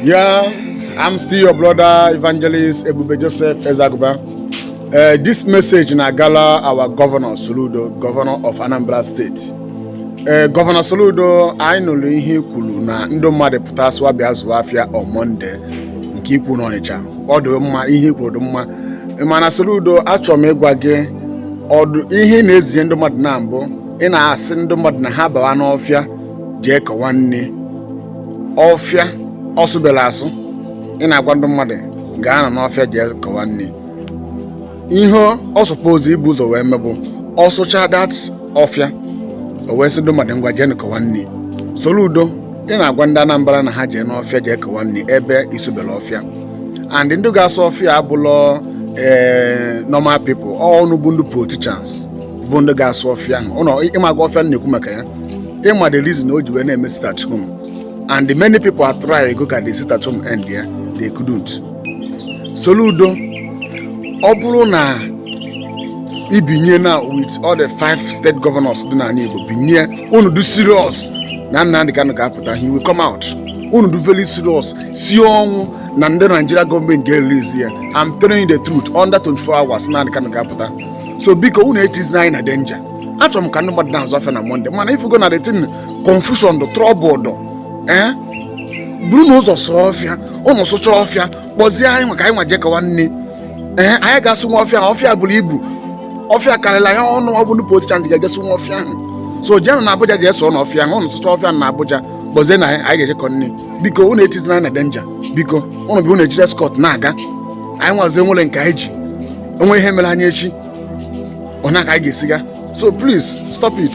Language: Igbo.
Yeah, I'm still your brother evangelist Ebube Joseph Ezaguba. Uh, this message na-agala our governor Soludo, governor of Anambra State. Uh, governor Soludo, anyị nụrụ ihe i kwuru na ndị mmadụ pụtasịwa bịa zụwa afịa on Monday nke i kwu n'Ọnịcha. Ọ dị mma ihe i kwuru dị mma. Mana Soludo, achọrọ m ịgwa gị ụdị ihe ị na-ezinye ndị mmadụ na mbụ ị na-asị ndị mmadụ na ha bawa n'ọfịa jee kọwa nni ọfịa ọ sụberọ asụ ị na-agwa ndị mmadụ gaanụ n'ọfịa jee kọwa nni ihe ọ suppose ibu ụzọ wee mee bụ ọ sụcha that ọfịa o wee sị ndị mmadụ ngwa jee kọwa nni Soludo ị na-agwa ndị Anambra na ha jee n'ọfịa jee kọwa nni ebe ị sụberọ ọfịa and ndị ga-asụ ọfịa abụlọ ee eh, normal people ọ ụnụ bụ ndị politicians bụ ndị ga-asụ ọfịa ahụ ụlọ ị maga ọfịa m na-ekwu maka ya ị ma the reason o ji wee na-eme sit at home and many people atrygo ka the sit at home endie they couldn't Soludo ọ bụrụ na i binye na with all the five state governors dị n'ala Igbo binye unu dị serious na Nnamdi Kanu ga-apụta he will come out unu dị very serious sie ọnwụ na ndị Nigeria government ga-erelease ya I'm telling you the truth under 24 hours Nnamdi Kanu ga-apụta so biko unu etizina anyị na danger achọrọ m ka ndị mmadụ na-azụ afịa na Monday mana ị fụgo na the thing confusion dụ trouble dụ ee eh? burunụ ụzọ sụọ ọfịa ụnụ sụcha ọfịa kpọzie anyị ma ka anyị nwa jee kọwa nni ee eh? anyị ga-asụ nwa ọfịa ọfịa buru ibu ọfịa karịrị anyị ọ ụnụ bụ ndị politician ndị ga-eje sụ nwa ọfịa ahụ so jenụ na Abuja jee sụọnụ ọfịa ahụ ụnụ sụcha ọfịa na Abuja kpọzienụ anyị ga-eje kọ nni biko ụnụ etizina anyị na danger biko ụnụ bụ ụnụ ejiri escort na-aga anyị nwazi enwerọ nke anyị ji o nwee ihe mere anyị echi ọ na ka anyị ga-esi ga so please stop it